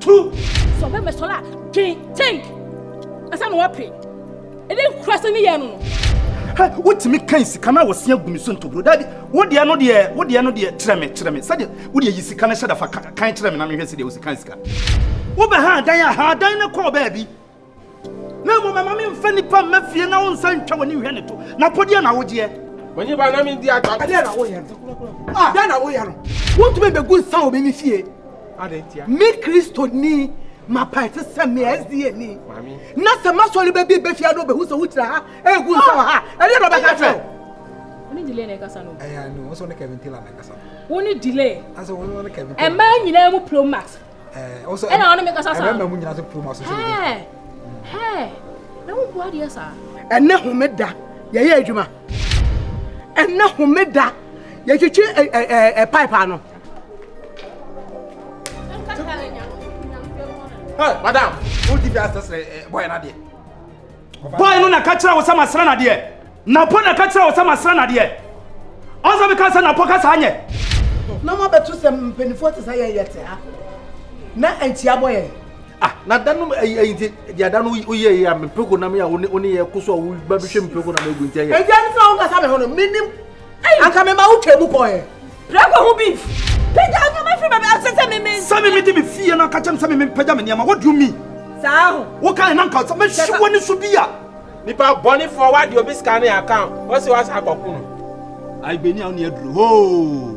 Tu! Sɛ ɔbɛ mɛ sɔrɔ a, dwen, think, ansa na wɔpe. Ɛdɛ nkura sɛ ne yɛ no no. Hɛ, wotumi kan sika no a wɔsia gu me so ntoburo. Daabi, wo deɛ no deɛ, wo deɛ no deɛ, kyerɛ me, kyerɛ me. Sɛdeɛ, wo deɛ yi sika no hyɛ da fa kan kyerɛ me na menhwɛ sɛdeɛ wosi kan sika. Wobɛha adan a, ha adan no kɔɔ baabi. Na mmom mma memfa nipa mma fie na wonsa ntwa w'ani nhwɛ ne to. Na po deɛ na wogyeɛ. W'ani ba na mendi atwa. Ɛdeɛ na woyɛ no. Ah, deɛ na woyɛ no. Wontumi bɛgu nsa wɔ me me fie. Adɛn ntia? Me Kristo ni. Mapa ɛte sɛ me SDA ni. Mami. Na sɛ masɔre bɛ bi bɛfia no bɛhu sɛ wokyerɛ ha ɛgu nsa wɔ ha. Ɛdeɛ na ɔbɛka kyerɛ wo. Wone delay na ɛkasa no. Ɛyɛ no, wo sɛ wone Kevin Taylor na ɛkasa no. Wone delay. Asɛ wone Kevin Taylor. Ɛmaa nyinaa mu Pro Max. ɛna ɔne me kasa saa ɛna mu nyina so puru ma so so hɛ hɛ na wo bua deɛ saa ɛnɛ homeda yɛyɛ adwuma ɛnɛ homeda yɛtwitwi ɛ ɛ ɛ pipe ano. Hey, madam, who did that? Boy, not there. Boy no na ka kyerɛ wo sɛ masra nadeɛ? Napɔ na ka kyerɛ wo sɛ masra nadeɛ? Ɔnsɛ meka sɛ napɔ ka saa nyɛ? Na mo abɛto sɛ mpanimfoɔ te sɛ yɛn yɛte ha na nti abɔ yɛn. Ah, na da no ayi ayi nti deɛ da no woyɛ yɛ a mepeko nam yɛ a wo ne yɛ ko so a wobɛhwɛ mepeko nam agu nti ɛyɛ. Ɛgya no fira wo kasa me ho no menim. anka mema wo twaa mu kɔɛ prɛkɔ ho beef pagya nneɛma firi baabi asɛ sɛ meme sɛ meme de me fie no aka kyɛm sɛ meme mpagya me nneɛma what do you mean saa ho wokae na nka sɛ mɛhye w'ani so bi a nipa bɔnefoɔ wade obi sika ne account wɔse wasa akɔko no agbeni a wo ne aduro hoo